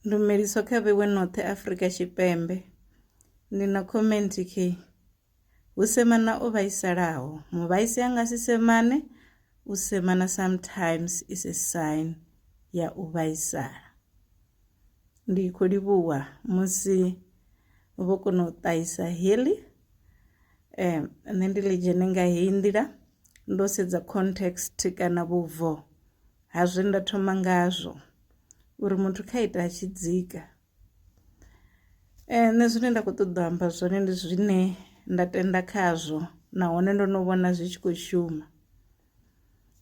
Ndumeliso kha vhewe noṱhe Afrika Tshipembe. Ndi na comment khi, Hu semana o vhaisalaho, muvhaisi a nga si semane, u semana sometimes is a sign ya u vhaisala. Ndi khou livhuwa musi vho kona u ṱahisa heḽi um nṋe ndi ḽi dzhene nga heyi nḓila ndo sedza context kana vhubvo. ha zwe nda thoma ngazwo uri muthu kha ita a tshi dzika eh, nṋe zwine nda khou ṱoḓa amba zwone ndi zwine nda tenda khazwo nahone ndo no vhona zwi tshi khou shuma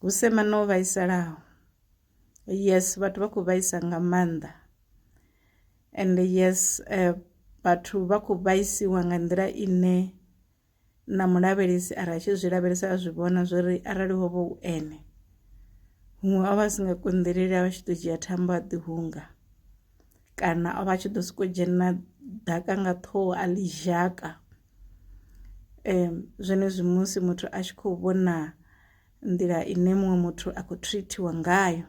hu semana o vhaisalaho yes vhathu vha khou vhaisa nga maanḓa and yes eh, vhathu vha khou vhaisiwa nga nḓila ine na mulavhelesi a ri a tshi zwi lavhelesa a zwi vhona zwo ri arali ho vha u ene huṅwe o vha a si nga konḓeleli a vha tshi ḓo dzhia thambo a ḓihunga kana o vha a tshi ḓo sokou dzhena ḓaka nga ṱhoho a ḽi zhaka um zwenezwi musi muthu a tshi khou vhona nḓila ine muṅwe muthu a khou treatiwa ngayo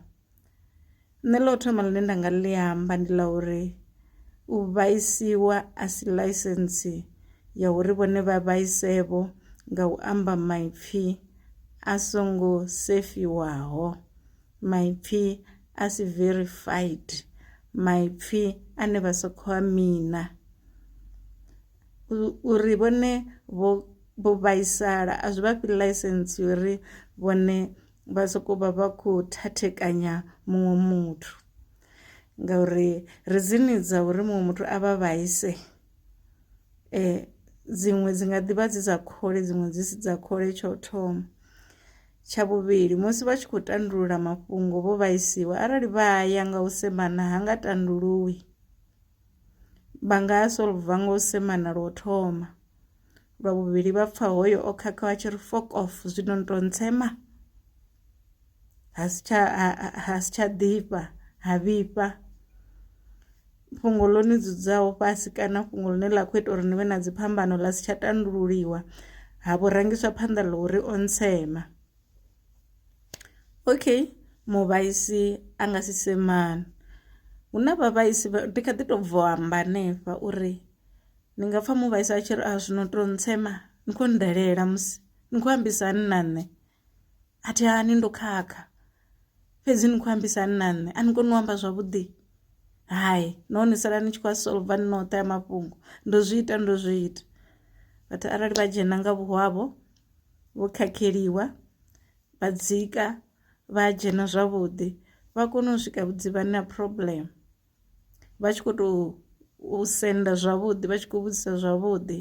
nṋe ḽa u thoma ḽine nda nga ḽi amba ndi ḽa uri u vhaisiwa a si ḽaisentse ya uri vhone vha vhaise vho nga u amba maipfhi a songo sefiwaho maipfhi a si verified maipfhi ane vha sa khou a mina uri vhone vho vhaisala a zwi vhafhi ḽaisentse uri vhone vha soko vha vha kho thathekanya muṅwe muthu ngauri rizini dza uri muṅwe muthu a vha vhaise eh dziṅwe dzi nga ḓivha dzi dza khole dziṅwe dzi si dza khole tsho thoma tsha vhuvhili musi vha tshi khou tandulula mafhungo vho vhaisiwa arali vha ya nga u semana ha nga tanduluwi vha nga solva nga u semana lwo thoma lwa vhuvhili vha pfa hoyo o khakha wa tshi ri fok off zwino ni tou ntsema ha si tsha ha si tsha ḓifha ha vhifha fhungo ḽo ni dzudzaho fhasi kana fhungo ḽine ḽa khou ita uri ni vhe na dziphambano ḽa si tsha tandululiwa ha vho rangiswa phanḓa ḽa uri o ntsema okay muvhaisi a nga si semana hu na vhavhaisi ndi kha ḓi tou bvo amba hanefha uri Ni nga pfha muvhaisa a tshi ri a zwino to ntsema ni kho ndalela musi ni kho ambisa hani na nṋe a thi hani ndo khakha fhedzi ni kho ambisa hani na nṋe a ni koni u amba zwavhuḓi hai nahone sala ni tshi khou a solva ni noṱhe ya mafhungo ndo zwi ita ndo zwi ita vhathu arali vha dzhena nga vhuhwavho vho khakheliwa vha dzika vha dzhena zwavhuḓi vha kone u swika vhudzivhani na problem. vha tshi kho to u senda zwavhuḓi vha tshi kho vhudzisa zwavhuḓi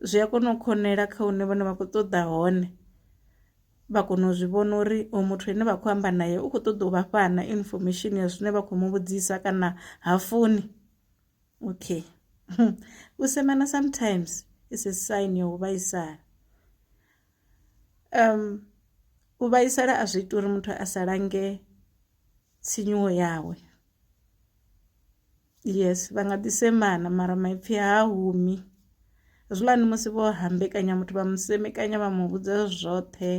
zwi a kona u khonela kha hune vhone vha kho ṱoḓa hone vha kona u zwi vhona uri oyo muthu ane vha kho amba naye u kho ṱoḓa u vha fha na information ya zwine vha khou mu vhudzisa kana ha funi okay u semana sometimes is a sign ya u vhaisala u vhaisala a zwi ita uri muthu a sa lange. tsinyuwo yawe yes vha nga ḓi semana mara maipfhi ha humi hezwiḽani musi vho hambekanya muthu vha mu semekanya vha mu vhudza zwoṱhe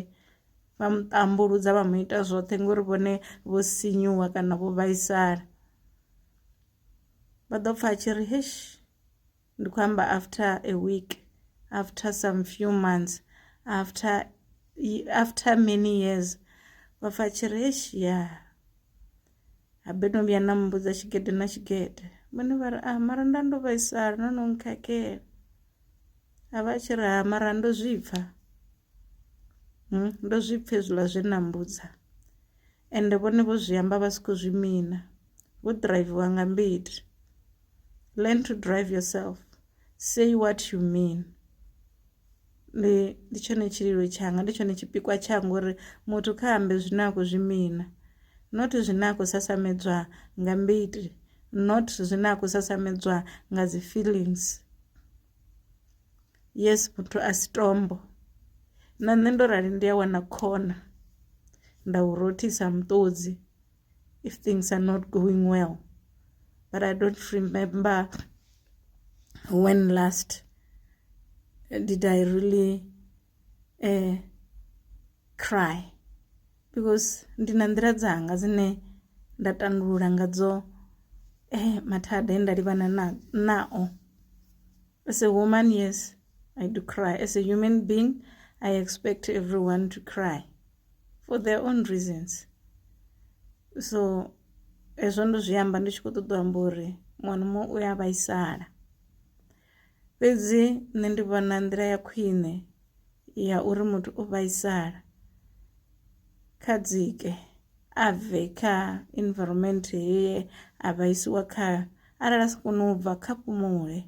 vha mu tambuludza vha mu ita zwoṱhe ngori vhone vho sinyuwa kana vho vhaisala vha ḓo pfha a tshi ri heshi ndi khou amba after a week after some few months after after many years vha pfa tshi ri eish ya habe no vhuya na mmbudza tshigede na tshigede vhone vha ri ah mara nda ndo vhaisala no no nkhakhela a vha tshi ri ha ah, mara ndo zwi pfa hmm, ndo zwi pfha hezwiḽa zwe na mbudza ende vhone vho zwi amba vha si khou zwi mina vho driviwa nga mbiti learn to drive yourself say what you mean ndi ndi tshone tshililo tshanga ndi tshone tshipikwa tshanga uri muthu kha ambe zwine a khou zwi mina not zwine a khou sasamedzwa nga mbiti not zwine a khou sasamedzwa nga dzi feelings Yes muthu a si tombo na nṋe ndo rali ndi a wana khona nda u rothisa muṱodzi if things are not going well but i don't remember when last did i really uh, cry because ndi na nḓila dzanga dzine nda tandulula ngadzo eh, mathada e nda livhana nao As a woman, yes, I do cry. As a human being, I expect everyone to cry for their own reasons. So, hezwo ndo zwi amba ndi tshi khou ṱoḓa u amba uri muṅwe na muṅwe u ya vhaisala fhedzi nṋe ndi vhona nḓila ya khwine ya uri muthu o vhaisala kha dzike a bve kha environment heye a vhaisiwa khayo arali a si kone u bva kha fhumule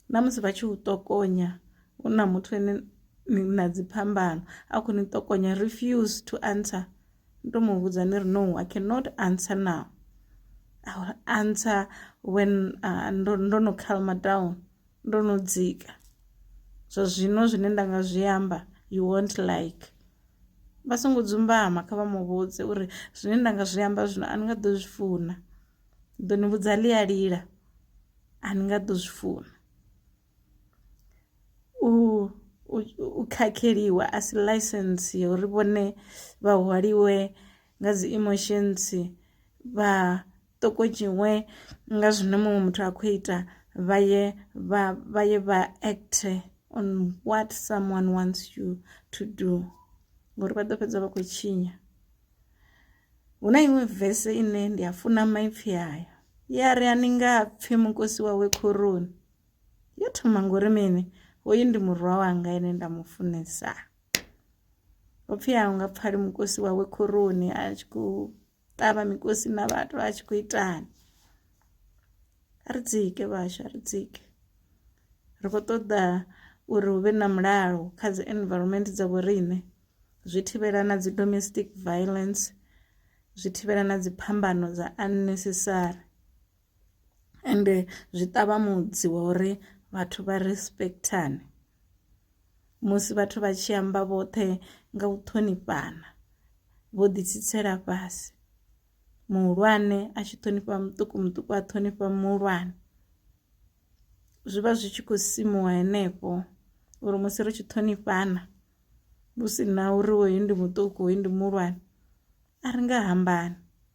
na musi vha tshi u ṱokonya hu na muthu ene ni na dzi phambano a khou ni ṱokonya refuse to answer ni to mu vhudza ni ri no i cannot answer now I will answer when uh, ndo, ndo no calmer down ndo no dzika zwa zwino zwine nda nga zwi amba you won't like vha songo dzumbama kha vha muvhudze uri zwine nda nga zwi amba zwino a ni nga ḓo zwi funa ḓo ni vhudza ḽi a lila a ni nga ḓo zwi funa u u khakheliwa a si license ya uri vhone vha hwaliwe nga dzi emotions vha ṱokodzhiwe nga zwine muṅwe muthu a khou ita vha ye vha vha ye vha act on what someone wants you to do ngori vha ḓo fhedza vha khou tshinya hu na iṅwe vese ine ndi a funa maipfhi ayo ya ri a ni nga pfhi mukosi wawe khoroni yo thoma ngori mini hoyu ndi murwa wanga ene nda mu funesa upfhi a nga pfali mukosi wawe khoroni a tshi khou ṱavha mikosi na vhathu vha tshi khou itani a ri dzike vhashu a ri dzike ri khou ṱoḓa uri hu vhe na mulalo kha dzi environment dza vhoriṋe zwi thivhela na dzi domestic violence zwi thivhela na dzi phambano dza unnecessary ende zwi ṱavha mudzi wa uri vhathu vha respectane musi vhathu vha tshi amba vhoṱhe nga u ṱhonifhana vho ḓi tsitsela fhasi muhulwane a tshi ṱhonifha muṱuku muṱuku a ṱhonifha muhulwane zwi vha zwi tshi khou simuwa henefho uri musi ri tshi ṱhonifhana hu si na uri hoyu ndi muṱuku hoyu ndi muhulwane a ri nga hambani